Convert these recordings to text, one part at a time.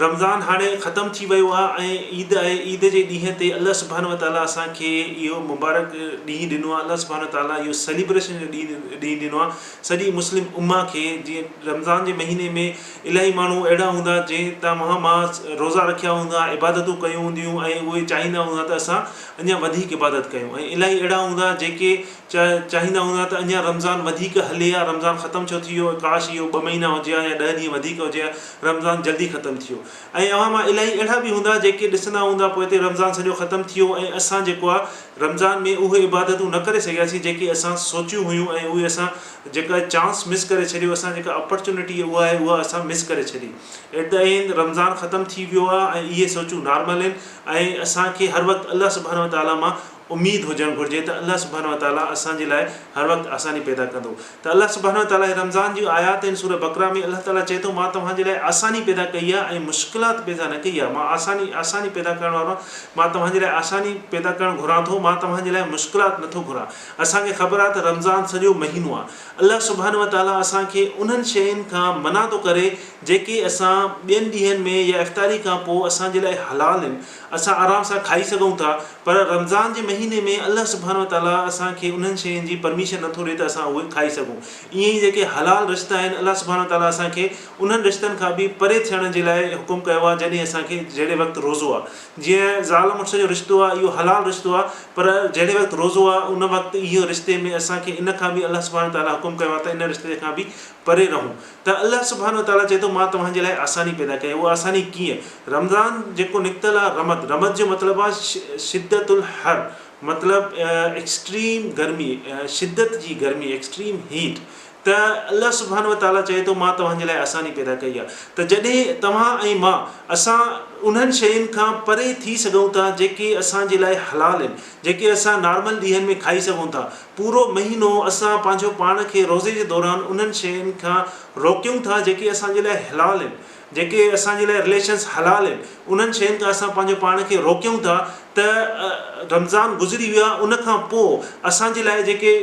رمضان هاڻي ختم ٿي ويو آهي ۽ عيد آهي عيد جي ڏينهن تي الله سبحانه وتعالٰي اسان کي اهو مبارڪ ڏينهن ڏنو آهي الله سبحانه وتعالٰي اهو سيليبريشن جو ڏينهن ڏنو آهي سڄي مسلم امه کي جيئن رمضان جي مهيني ۾ الاهي ماڻهو اهڙا هوندا جنهن تان مها ماء روزا رکيا هوندا عبادتون ڪيون هونديون ۽ اهي چاهيندا هوندا ته اسان اڃا وڌيڪ عبادت ڪيون ۽ الاهي اهڙا هوندا جيڪي چاهيندا هوندا ته اڃان رمضان وڌيڪ هلي ها رمضان ختم ڇو ٿي ويو ڪاش اهو ٻه مهينا هجي ها يا ڏهه ڏينهن وڌيڪ هجي ها رمضان جلدي ختم ٿي ويو ۽ اوهان مان الائي اهڙا به هوندا جيڪي ڏسندا هوندا پوئتي رمضان سڄو ختم ٿي ويو ۽ اسان جيڪو آهي رمضان ۾ اهي عبادتون نه ڪري سگهياسين جيڪي اسان سوچيون هيون ۽ اهي اسان جيڪا چانس مس ڪري ڇڏيو اسان جيڪا اپرچونٽي اها آهي اها اسان مس ڪري ڇڏي ات ته اهين رمضان ختم ٿي ويو آهي ۽ اهي سوچون نارمل آهن ۽ اسان کي هر وقت الله سبحانه وتعالٰي مان اميد هجڻ گهرجي ته الله سبحانه وتعاليٰ اسان جي لاء هر وقت آساني پيدا ڪندو ته الله سبحانه وتعاليٰ رمضان جون آيات آهن سوره بقره ۾ الله تعاليٰ چئي ٿو مان توهان جي لاء آساني پيدا ڪئي آهي ۽ مشڪلات پيدا نه ڪئي آهي مان آساني آساني پيدا ڪرڻ وارو آهيان مان توهان جي لاء آساني پيدا ڪرڻ گهران ٿو مان توهان جي لاء مشڪلات نٿو گهران اسان کي خبر آهي ته رمضان سڄو مهينو آهي الله سبحانه وتعاليٰ اسان کي انهن شين کان منع ٿو ڪري جيڪي اسان ٻين ڏينهن ۾ يا افطاري کان پوء اسان جي لاء حلال آهن اسان آرام سان کائي سگهون ٿا پر رمضان جي مهيني ۾ الله سبحانه وتعاليٰ اسان کي انهن شين جي پرميشن نٿو ڏي ته اسان اهي کائي سگهون ائين ئي جيڪي حلال رشتا آهن الله سبحانه وتعاليٰ اسان کي انهن رشتن کان به پري ٿيڻ جي لاء حڪم ڪيو آهي جڏهن اسان کي جهڙي وقت روزو آهي جيئن زال مڙس جو رشتو آهي اهو حلال رشتو آهي پر جهڙي وقت روزو آهي ان وقت اهي رشتي ۾ اسان کي ان کان به الله سبحانه وتعاليٰ حڪم ڪيو آهي ته ان رشتي کان به پري رهون ته الله سبحانه وتعاليٰ چئي ٿو مان توهان جي لاء آساني پيدا ڪئي، اها آساني ڪيئن؟ رمضان جيڪو نڪتل آهي رمد، رمد جو مطلب آهي شدت الحر مطلب ايڪسٽريم گرمي، شدت جي گرمي ايڪسٽريم هيٽ ته الله سبحانه وتعاليٰ چئي ٿو مان توهان جي لاء آساني پيدا ڪئي آهي ته جڏهن توهان ۽ مان اسان انهن شين کان پري ٿي سگهون ٿا جيڪي اسان جي لاء حلال آهن جيڪي اسان نارمل ڏينهن ۾ کائي سگهون ٿا پورو مهينو اسان پنهنجو پاڻ کي روزي جي دوران انهن شين کان روڪيون ٿا جيڪي اسان جي لاء حلال آهن جيڪي اسان جي لاء رليشنز حلال آهن انهن شين کان اسان پنهنجو پاڻ کي روڪيون ٿا ته رمضان گذري ويو آهي ان کان پوء اسان جي لاء جيڪي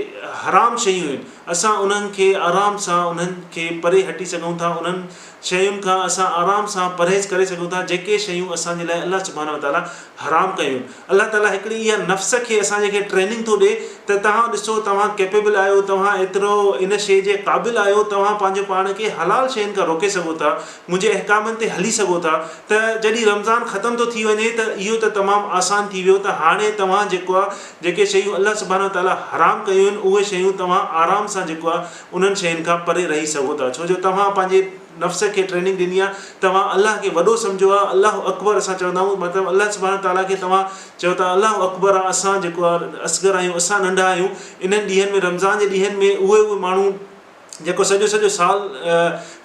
حرام شيون آهن اسان انهن کي آرام سان انهن کي پري هٽي سگهون ٿا انهن شين کان اسان آرام سان پرهيز ڪري سگهون ٿا جيڪي شيون اسان جي لاء الله سبحانه وتعاليٰ حرام ڪيون. الله تعاليٰ هڪڙي اها نفس کي اسان جي کي ٽريننگ ٿو ڏي ته توهان ڏسو توهان ڪيپيبل آهيو توهان ايترو ان شيء جي قابل آهيو توهان پنهنجو پاڻ کي حلال شين کان روڪي سگهو ٿا منهنجي احڪامن تي هلي سگهو ٿا ته جڏهن رمضان ختم ٿو ٿي وڃي ته اهو ته تمام آسان ٿي ويو ته هاڻي توهان جيڪو آهي جيڪي شيون الله سبحانه وتعاليٰ حرام ڪيون آهن اهي شيون توهان آرام سان جيڪو آهي انهن شين کان پري رهي سگهو ٿا ڇو جو توهان پنهنجي نفس کي ٽريننگ ڏني آهي توهان الله کي وڏو سمجهيو آهي الله اڪبر اسان چوندا آهيون مطلب الله سبحانه تعالٰي کي توهان چيو ته الله اڪبر آ اسان جيڪو آ اصغر آهيون اسان ننڍا آهيون انهن ڏينهن ۾ رمضان جي ڏينهن ۾ اهي اهي ماڻهو جيڪو سڄو سڄو سال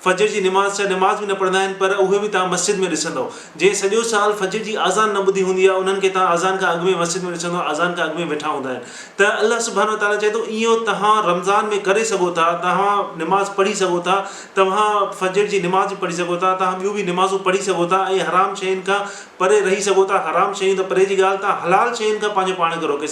فجر جي نماز ڇا نماز به نه پڙهندا آهن پر اهي به توهان مسجد ۾ ڏسندؤ. جنهن سڄو سال فجر جي آذان نه ٻڌي هوندي آهي انهن کي توهان آذان کان اڳ ۾ مسجد ۾ ڏسندؤ آذان کان اڳ ۾ ويٺا هوندا آهن ته الله سبحانه وتعاليٰ چئي ٿو اهو توهان رمضان ۾ ڪري سگهو ٿا توهان نماز پڙهي سگهو ٿا توهان فجر جي نماز به پڙهي سگهو ٿا توهان ٻيون به نمازون پڙهي سگهو ٿا ۽ حرام شين کان پري رهي سگهو ٿا حرام شيون ته پري جي ڳالهه توهان حلال شين کان پنهنجو پاڻ کي روڪي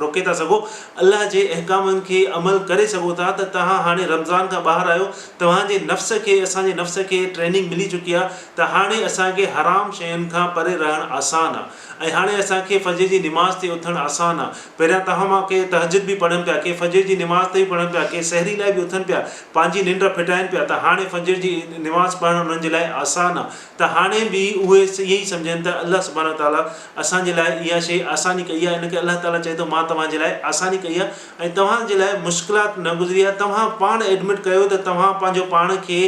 روڪي ٿا سگهو الله جي احڪامن کي عمل ڪري سگهو ٿا ته توهان هاڻي رمضان کان ٻاهر آهيو توهان جي نفس کي اسان جي نفس کي ٽريننگ ملي چڪي آ ته هاڻي اسان کي حرام شين کان پري رهڻ آسان آ ۽ هاڻي اسان کي فجر جي نماز تي اٿڻ آسان آ پهريان توهان مان ڪي تهجد به پڙهن پيا ڪي فجر جي نماز تي به پڙهن پيا ڪي سحري لاء به اٿن پيا پنهنجي ننڊ ڦٽائين پيا ته هاڻي فجر جي نماز پڙهڻ انهن جي لاء آسان آ ته هاڻي به اهي ائين ئي سمجهن ته الله سبحانه وتعاليٰ اسان جي لاء اها شي آساني ڪئي آ ان ڪري الله تعاليٰ چئي ٿو مان توهان جي لاء آساني ڪئي آ ۽ توهان جي لاء مشڪلات نه گذري ها توهان پاڻ ايڊمٽ ڪيو ته توهان پنهنجو پاڻ کي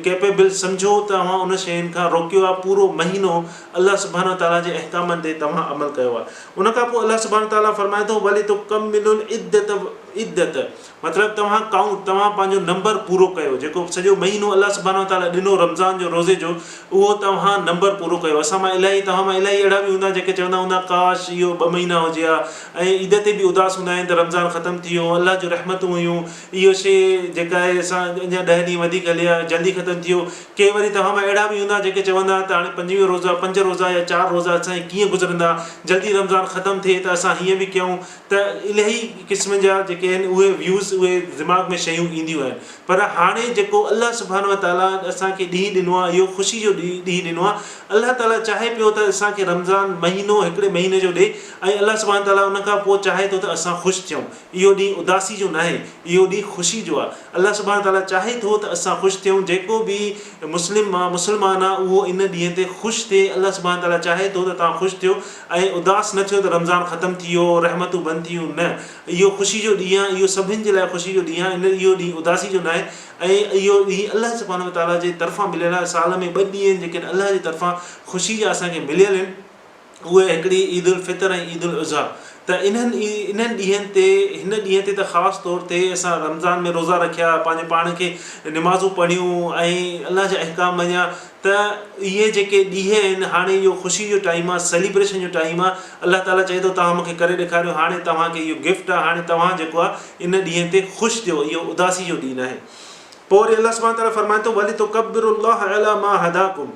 ڪيپيبل سمجهو ته اوهان ان شين کان روڪيو آهي پورو مهينو الله سبحانه وتعالي جي احڪامن تي توهان عمل ڪيو آهي ان کان پوء الله سبحانه وتعالي فرمائي ٿو ولتڪملوا العدة عدت مطلب توهان ڪائونٽ توهان پنهنجو نمبر پورو ڪيو جيڪو سڄو مهينو الله سبحانه وتعالي ڏنو رمضان جو روزي جو اهو توهان نمبر پورو ڪيو اسان مان الاهي توهان مان الاهي اهڙا به هوندا جيڪي چوندا هوندا ڪاش اهو ٻه مهينا هجي ها ۽ عيد تي به اداس هوندا آهن ته رمضان ختم ٿي ويو الله جون رحمتون هيون اهو شي جيڪا آهي اسان اڃا ڏهه ڏينهن وڌيڪ هلي ها جلدي ختم ٿي ويو ڪي وري توهان مان اهڙا به هوندا جيڪي چوندا ها ته هاڻي پنجويهه روزا پنج روزا يا چار روزا اسان جي ڪيئن گذرندا جلدي رمضان ختم ٿئي ته اسان هيئن به ڪيون ته الهي قسم جا جيڪي آهن اهي ويوز اهي دماغ ۾ شيون اينديون آهن پر هاڻي جيڪو الله سبحانه وتعاليٰ اسان کي ڏينهن ڏنو آهي اهو خوشي جو ڏينهن ڏنو آهي الله تعاليٰ چاهي پيو ته اسان کي رمضان مهينو هڪڙي مهيني جو ڏي ۽ الله سبحانه وتعاليٰ ان کان پوء چاهي ٿو ته اسان خوش ٿيون. اهو ڏينهن اداسي جو ناهي، اهو ڏينهن خوشي جو آهي. الله سبحانه وتعاليٰ چاهي ٿو ته اسان خوش ٿيون. جيڪو به مسلم مان مسلمان آهي اهو ان ڏينهن تي خوش ٿئي. الله سبحانه وتعاليٰ چاهي ٿو ته توهان خوش ٿيو ۽ اداس نه ٿيو ته رمضان ختم ٿي ويو، رحمتون بند ٿي ويون، نه! اهو خوشي جو ڏينهن آهي، اهو سڀني جي لاء خوشي جو ڏينهن آهي، اهو ڏينهن اداسي جو ناهي ۽ اهو ڏينهن الله سبحانه وتعاليٰ جي طرفان مليل آهي. سال ۾ ٻه ڏينهن آهن جيڪي الله جي طرفان خوشي جا اسان کي مليل آهن. اهي هڪڙي عيد الفطر ۽ عيد الاضحيٰ ته انهن انهن ڏينهن تي هن ڏينهن تي ته خاص طور تي اسان رمضان ۾ روزا رکيا پنهنجي پاڻ کي نمازون پڙهيون ۽ الله جا احڪام مڃيا ته اهي جيڪي ڏينهن آهن هاڻي اهو خوشي جو ٽائيم آهي سيليبريشن جو ٽائيم آهي الله تعالٰي چئي ٿو توهان مونکي ڪري ڏيکاريو هاڻي توهان کي اهو گفٽ آهي هاڻي توهان جيڪو آهي ان ڏينهن تي خوش ٿيو اهو اداسي جو ڏينهن آهي پوء وري الله سبحانه تعالٰي فرمائي ٿو ولتڪبروا الله عليٰ ما هداڪم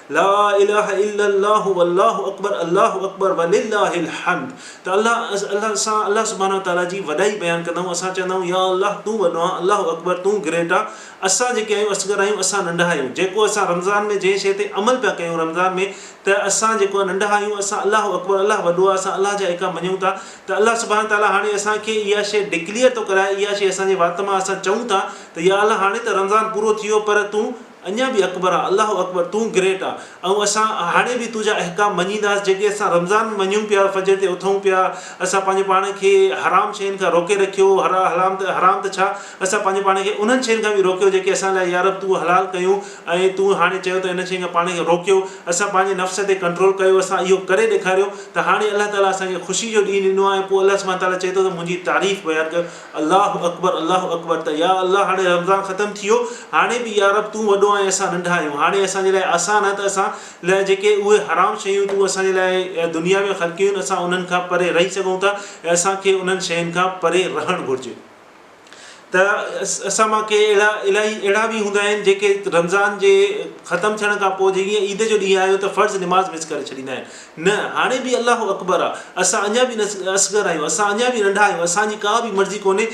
لا اله الا الله والله اڪبر الله اڪبر ولله الحمد ته الله الله سان الله سبحانه وتعاليٰ جي وڏائي بيان ڪندا آهيون اسان چوندا آهيون يا الله تون وڏو آهين الله اڪبر تون گريٽ آهين اسان جيڪي آهيون اصغر آهيون اسان ننڍا آهيون جيڪو اسان رمضان ۾ جنهن شيء تي عمل پيا ڪيون رمضان ۾ ته اسان جيڪو آهي ننڍا آهيون اسان الله اڪبر الله وڏو آهي اسان الله جا ايڪا مڃون ٿا ته الله سبحانه وتعاليٰ هاڻي اسان کي اها شيء ڊڪليئر ٿو ڪرائي اها شيء اسان جي وات مان اسان چئون ٿا ته يا الله هاڻي ته رمضان پورو ٿي ويو پر تون اڃا به اڪبر آ الله اڪبر تون گريٽ آ ۽ اسان هاڻي به تنهنجا احڪام مڃينداس جيڪي اسان رمضان ۾ مڃون پيا فجر تي اٿون پيا اسان پنهنجي پاڻ کي حرام شين کان روڪي رکيو حرام ته حرام ته ڇا اسان پنهنجي پاڻ کي انهن شين کان به روڪيو جيڪي اسان لاء يارب تون حلال ڪيون ۽ تون هاڻي چيو ته انهن شين کان پاڻ کي روڪيو اسان پنهنجي نفس تي ڪنٽرول ڪيو اسان اهو ڪري ڏيکاريو ته هاڻي الله تعالي اسان کي خوشي جو ڏينهن ڏنو آ ۽ پوء الله سبحانه تعالي چئي ٿو ته منهنجي تعريف بيان ڪيو الله اڪبر الله اڪبر ته يا الله هاڻي رمضان ختم ٿي ويو هاڻي به يارب تون وڏو آهين اسان ننڍا آهيون هاڻي اسان جي لاء آسان آهي ته اسان لاء جيڪي اهي حرام شيون تون اسان جي لاء دنيا ۾ خلقيون آهن اسان انهن کان پري رهي سگهون ٿا ۽ اسان کي انهن شين کان پري رهڻ گهرجي ته اسان مان ڪي اهڙا الاهي اهڙا به هوندا آهن جيڪي رمضان جي ختم ٿيڻ کان پوء جيئن عيد جو ڏينهن آيو ته فرض نماز مس ڪري ڇڏيندا آهن نه، هاڻي به الله اڪبر آ. اسان اڃا به اصغر آهيون، اسان اڃا به ننڍا آهيون، اسان جي ڪا به مرضي ڪونهي،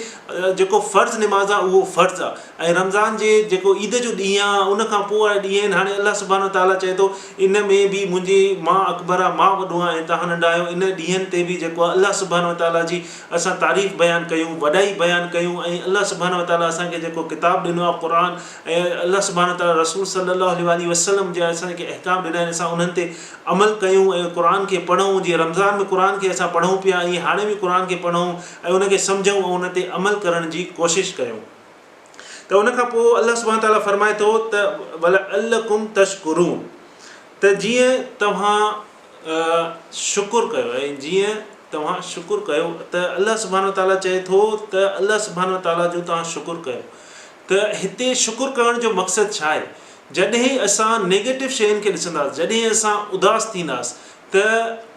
جيڪو فرض نماز آ اهو فرض آ ۽ رمضان جي جيڪو عيد جو ڏينهن آ ان کان پوء وارا ڏينهن آهن، هاڻي الله سبحانه و تعالٰي چئي ٿو ان ۾ به منهنجي مان اڪبر آ، مان وڏو آهيان ۽ توهان ننڍا آهيو، ان ڏينهن تي به جيڪو آ الله سبحانه و تعالٰي جي اسان تعريف بيان ڪيون، وڏائي بيان ڪيون ۽ الله سبحانه و تعالٰي اسان کي جيڪو ڪتاب ڏنو آ قرآن ۽ الله سبحانه و تعالٰي رسول صلّي الله عليه واٰله وسلّم جا اسان کي احڪام ڏنا آهن اسان انهن تي عمل ڪيون ۽ قرآن کي پڙهون، جيئن رمضان ۾ قرآن کي اسان پڙهون پيا ائين هاڻي به قرآن کي پڙهون ۽ ان کي سمجهون ۽ ان تي عمل ڪرڻ جي ڪوشش ڪيون ته ان کان پوء الله سبحانه تعاليٰ فرمائي ٿو ته ولعلڪم تشڪرون ته جيئن توهان شڪر ڪيو ۽ جيئن توهان شڪر ڪيو ته الله سبحانه تعاليٰ چئي ٿو ته الله سبحانه تعاليٰ جو توهان شڪر ڪيو ته هتي شڪر ڪرڻ جو مقصد ڇا آهي؟ جڏهن اسان نيگيٽو شين کي ڏسنداس، جڏهن اسان اداس ٿينداس ته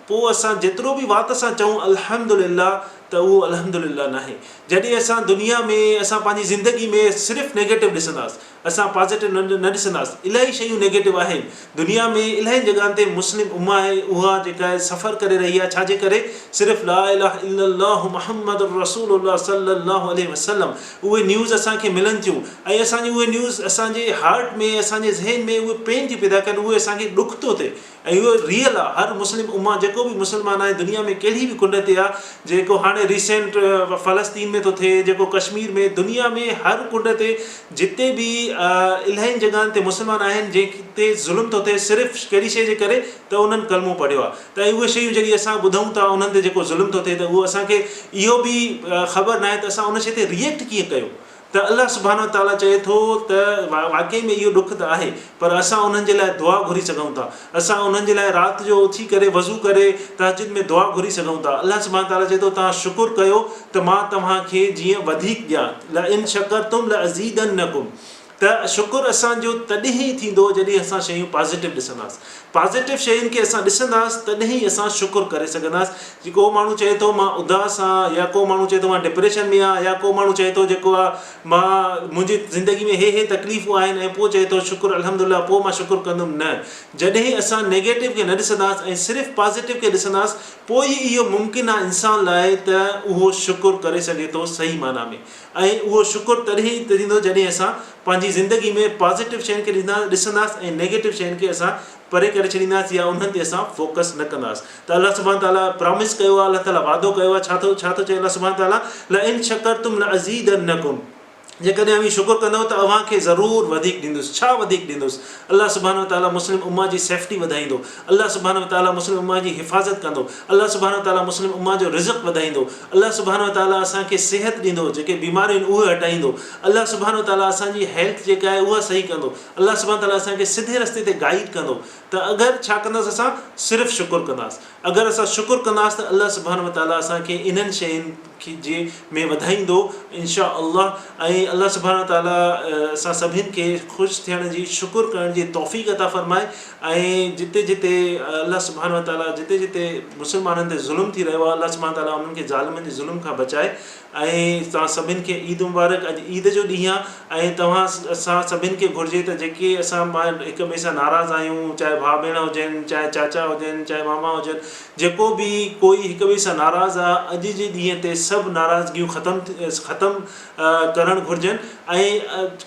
پوء اسان جيترو به وات سان چئون الحمدلله ته اهو الحمدلله ناهي. جڏهن اسان دنيا ۾ اسان پنهنجي زندگي ۾ صرف نيگيٽو ڏسنداس، اسان پازيٽو نه ڏسنداس، الائي شيون نيگيٽو آهن دنيا ۾ الائين جڳهن تي مسلم امه آهي اها جيڪا سفر ڪري رهي آهي ڇا جي ڪري صرف لا اله الا الله محمد الرسول الله صلي الله عليه وسلم اهي نيوز اسان کي ملن ٿيون ۽ اسان جي اهي نيوز اسان جي هارٽ ۾ اسان جي ذهن ۾ اهي پين ٿيون پيدا ڪن اهي اسان کي ڏک ٿو ٿئي ۽ اهو ريئل آهي هر مسلم امه جيڪو به مسلمان آهي دنيا ۾ ڪهڙي به ڪنڊ تي آهي جيڪو هاڻي ريسينٽ فلسطين ۾ ٿو ٿئي جيڪو ڪشمير ۾ دنيا ۾ هر ڪنڊ تي جتي به الاهين جڳهن تي مسلمان آهن جنهن تي ظلم ٿو ٿئي صرف ڪهڙي شيء جي ڪري ته انهن ڪلمو پڙهيو آهي ته اهي شيون جهڙي اسان ٻڌون ٿا انهن تي جيڪو ظلم ٿو ٿئي ته اهو اسان کي اهو به خبر ناهي ته اسان ان شيء تي ريئيڪٽ ڪيئن ڪيو ته الله سبحانه وتعالٰي چئي ٿو ته واقعي ۾ اهو ڏک ته آهي پر اسان انهن جي لاء دعا گهري سگهون ٿا. اسان انهن جي لاء رات جو اٿي ڪري وضو ڪري تهجد ۾ دعا گهري سگهون ٿا. الله سبحانه وتعاليٰ چئي ٿو توهان شڪر ڪيو ته مان توهان کي جيئن وڌيڪ ڏيان، لئن شڪرتم لازيدنکم، ته شڪر اسان جو تڏهن ئي ٿيندو جڏهن اسان شيون پازيٽو ڏسنداس. پازيٽو شين کي اسان ڏسنداس تڏهن ئي اسان شڪر ڪري سگهنداس. جي ڪو ماڻهو چئي ٿو مان اداس آهيان يا ڪو ماڻهو چئي ٿو مان ڊپريشن ۾ آهيان يا ڪو ماڻهو چئي ٿو جيڪو آ مان، منهنجي زندگي ۾ هي هي تڪليفون آهن ۽ پوء چئي ٿو شڪر الحمد الله پوء مان شڪر ڪندم نه جڏهن اسان نيگيٽو کي نه ڏسنداس ۽ صرف پازيٽو کي ڏسنداس پوء ئي اهو ممڪن آهي انسان لاء ته اهو شڪر ڪري سگهي ٿو صحيح معنيٰ ۾ ۽ اهو شڪر تڏهن ئي ٿيندو جڏهن اسان پنهنجي زندگي ۾ پازيٽو شين کي ڏسنداس ۽ نيگيٽو شين کي اسان پري ڪري ڇڏينداسين يا انهن تي اسان فوڪس نه ڪنداس ته الله سبحانه تعالي پرامس ڪيو آهي الله تعالي وعدو ڪيو آهي ڇا ٿو ڇا ٿو چئي الله سبحانه تعالي لئن شڪرتم لازيدنڪم جيڪڏهن اوهين شڪر ڪندو ته اوهان کي ضرور وڌيڪ ڏيندس ڇا وڌيڪ ڏيندس الله سبحانه تعالي مسلم امه جي سيفٽي وڌائيندو الله سبحانه تعالي مسلم امه جي حفاظت ڪندو الله سبحانه تعالي مسلم امه جو رزق وڌائيندو الله سبحانه تعالي اسان کي صحت ڏيندو جيڪي بيماريون آهن اهي هٽائيندو الله سبحانه تعالي اسان جي هيلٿ جيڪا آهي اها صحيح ڪندو الله سبحانه تعاليٰ اسان کي سڌي رستي تي گائيڊ ڪندو ته اگر ڇا ڪنداس اسان صرف شڪر ڪنداس اگر اسان شڪر ڪنداس ته الله سبحانه وتعاليٰ اسان کي انهن شين جي ۾ وڌائيندو انشاء الله ۽ الله سبحانه وتعاليٰ اسان سڀين کي خوش ٿيڻ جي شڪر ڪرڻ جي توفيق عطا فرمائي ۽ جتي جتي الله سبحانه وتعاليٰ جتي جتي مسلمانن تي ظلم ٿي رهيو آهي الله سبحانه وتعاليٰ انهن کي ظالمن جي ظلم کان بچائي ۽ توهان سڀن کي عيد مبارڪ اڄ عيد جو ڏينهن آ ۽ توهان سان سڀن کي گهرجي ته جيڪي اسان مان هڪ ٻئي سان ناراض آهيون چاهي ڀاء ڀيڻ هجن چاهي چاچا هجن چاهي ماما هجن جيڪو به ڪوئي هڪ ٻئي سان ناراض آ اڄ جي ڏينهن تي سڀ ناراضگيون ختم ختم ڪرڻ گهرجن ۽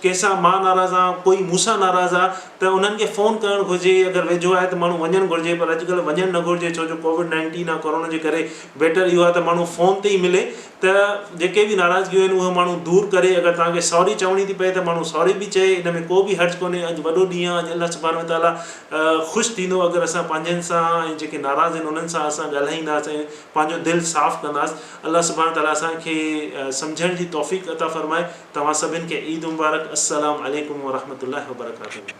ڪنهن سان مان ناراض آ ڪوئي مون سان ناراض آ ته انهن کي فون ڪرڻ گهرجي اگر ويجهو آهي ته ماڻهو وڃن گهرجي پر اڄ ڪلهه وڃڻ نه گهرجي ڇو جو ڪووڊ نائنٽين آ ڪورونا جي ڪري بيٽر اهو آهي ته ماڻهو فون تي ئي ملي ته جيڪي به ناراضگيون آهن اهي ماڻهو دور ڪري اگر توهان کي سوري چوڻي ٿي پئي ته ماڻهو سوري به چئي ان ۾ ڪو به حرج ڪونهي اڄ وڏو ڏينهن آهي اڄ الله سبحانه وتعالٰي خوش ٿيندو اگر اسان پنهنجن سان ۽ جيڪي ناراض آهن انهن سان اسان ڳالهائينداس ۽ پنهنجو دل صاف ڪنداس الله سبحانه وتعالٰي اسان کي سمجهڻ جي توفيق عطا فرمائي توهان سڀن کي عيد مبارڪ السلام عليڪم ورحمة الله وبرڪاته.